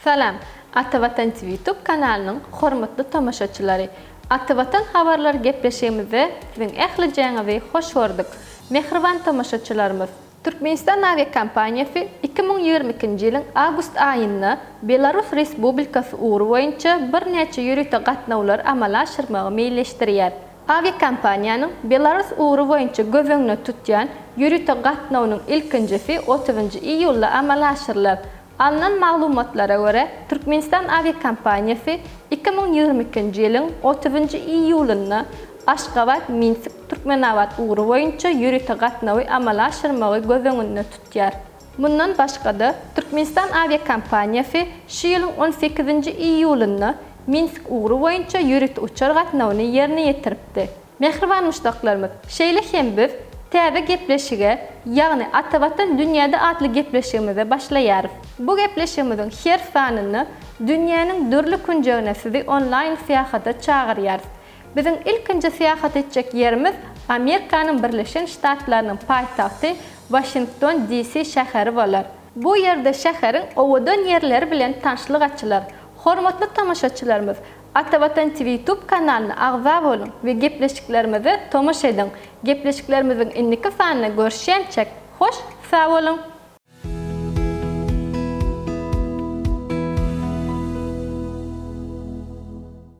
Salam, Ata Watan TV YouTube kanalynyň hormatly tomaşaçylary! Ata Watan habarlary gepleşigimizde siziň ählijeňizi hoş gördük, mähriban tomaşaçylarymyz! Türkmenistan awiakompaniýasy iki müň ýigrimi ikinji ýylyň awgust aýynda Belarus Respublikasy ugry boýunça birnäçe ýörite gatnawlary amala aşyrmagy meýilleşdirýär. Awiakompaniýanyň Belarus ugry boýunça göz öňüne tutýan ýörite gatnawynyň ilkinjisi otuzynjy iýulda amala aşyrylar. Alnan maglumatlara görä, Türkmenistan awiakompaniýasy iki müň ýigrimi ikinji ýylyň otuzynjy iýulynda Aşgabat, Minsk, Türkmenabat ugry boýunça ýörite gatnawy amala aşyrmagy göz öňünde tutýar. Mundan başga-da, Türkmenistan awiakompaniýasy şu ýylyň on sekizinji iýulynda Minsk ugry boýunça ýörite uçar gatnawyny ýerine ýetiripdi. Mähriban muşdaklarymyz, şeýle hem biz täze gepleşige, ýagny Atavatan dünýäde atly gepleşigimize başlaýarys. Bu gepleşigimiziň her sanynda dünýäniň dürli künjegine sizi onlaýn syýahata çagyrýarys. Biziň ilkinji syýahat etjek ýerimiz Amerikanyň Birleşen Ştatlarynyň paýtagty Waşington DC şäheri bolar. Bu ýerde şäheriň owadan ýerleri bilen tanşlyk açylar. Hormatly tomaşaçylarymyz, Atavatan TV YouTube kanalyna agza boluň we gepleşiklerimize tomaşa ediň. Gepleşiklerimiziň indiki sanynda görüşýänçäk, hoş sag boluň!